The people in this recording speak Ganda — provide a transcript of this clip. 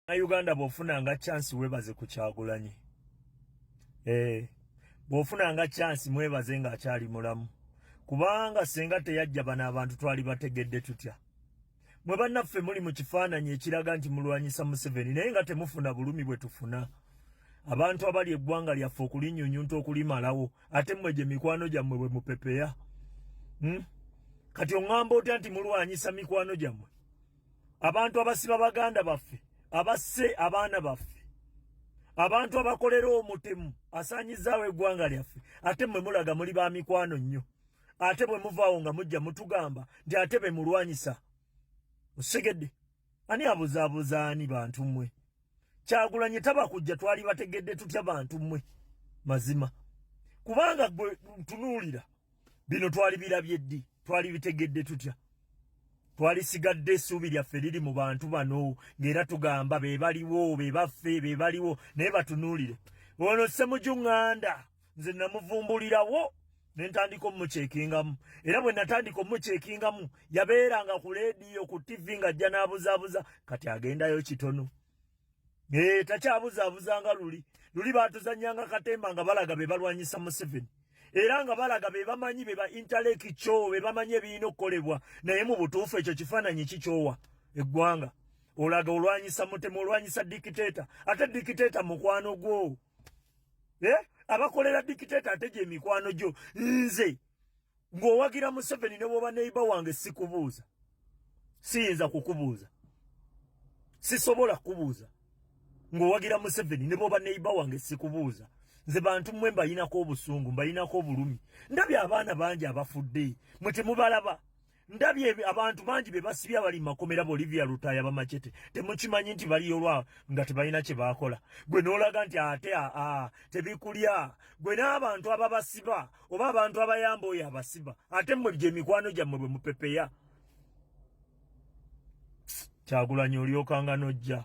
na Uganda bofuna nga chance webaze ku kyagulanyi eh bofuna nga chance mwebaze nga akyali mulamu kubanga senga teyajja bana abantu twali bategedde tutya mwe banaffe muli mu kifaananyi ekiraga nti mulwanyisa museveni naye nga temufuna bulumi bwe tufuna abantu abali eggwanga lyaffe okulinyunyunta okulimalawo ate mmwe gye mikwano gyammwe bwe mupepeya hmm? kati oŋŋamba otya nti mulwanyisa mikwano gyammwe abantu abasiba baganda baffe abasse abaana baffe abantu abakolera omutemu asaanyizaawo eggwanga lyaffe ate mwe mulaga muli ba mikwano nnyo ate bwe muvaawo nga mujja mutugamba nti ate be mulwanyisa osegedde ani abuzaabuza ani bantu mmwe kyagulanyi tabakujja twali bategedde tutya bantu mwe mazima kubanga gwe tunuulira bino twali birabye ddi twali bitegedde tutya twali sigadde essuubi lyaffe liri mu bantu bano ng'era tugamba be baliwo be baffe be baliwo naye batunuulire ono ssemujunganda nze namuvumbulirawo nentandika omukyekingamu era bwe natandika omukyekingamu yabeeranga ku leediyo ku tivi ng'ajja n'abuzaabuza kati agendayo kitono ee takyabuzaabuzanga luli luli baatuzanyanga katemba nga balaga be balwanyisa museveni era nga balaga be bamanyi be ba intaleki kyo be bamanyi ebirina okukolebwa naye mu butuufu ekyo kifaananyi kikyowa eggwanga olaga olwanyisa mutemu olwanyisa dikiteeta ate dikiteeta mukwano gwo eh abakolera dictator ateje emikwano jo nze ngowagira museveni ne boba neiba wange sikubuuza siyinza kukubuuza sisobola kubuuza ngowagira museveni ne boba neiba wange sikubuuza nze bantu mwe mbayinako obusungu mbayinako obulumi ndabye abaana bangi abafudde mwe temubalaba ndabye abantu bangi be basibye abali makomera bo Olivia Lutaya bamachete temukimanyi nti bali olwa nga tebalina kye bakola gwe nolaga nti ate a a tebikulya gwe n'abantu ababasiba oba abantu abayamba oyo abasiba ate mmwe bye mikwano gyammwe bwe mupepeya kyagulanyi olyokanga nojja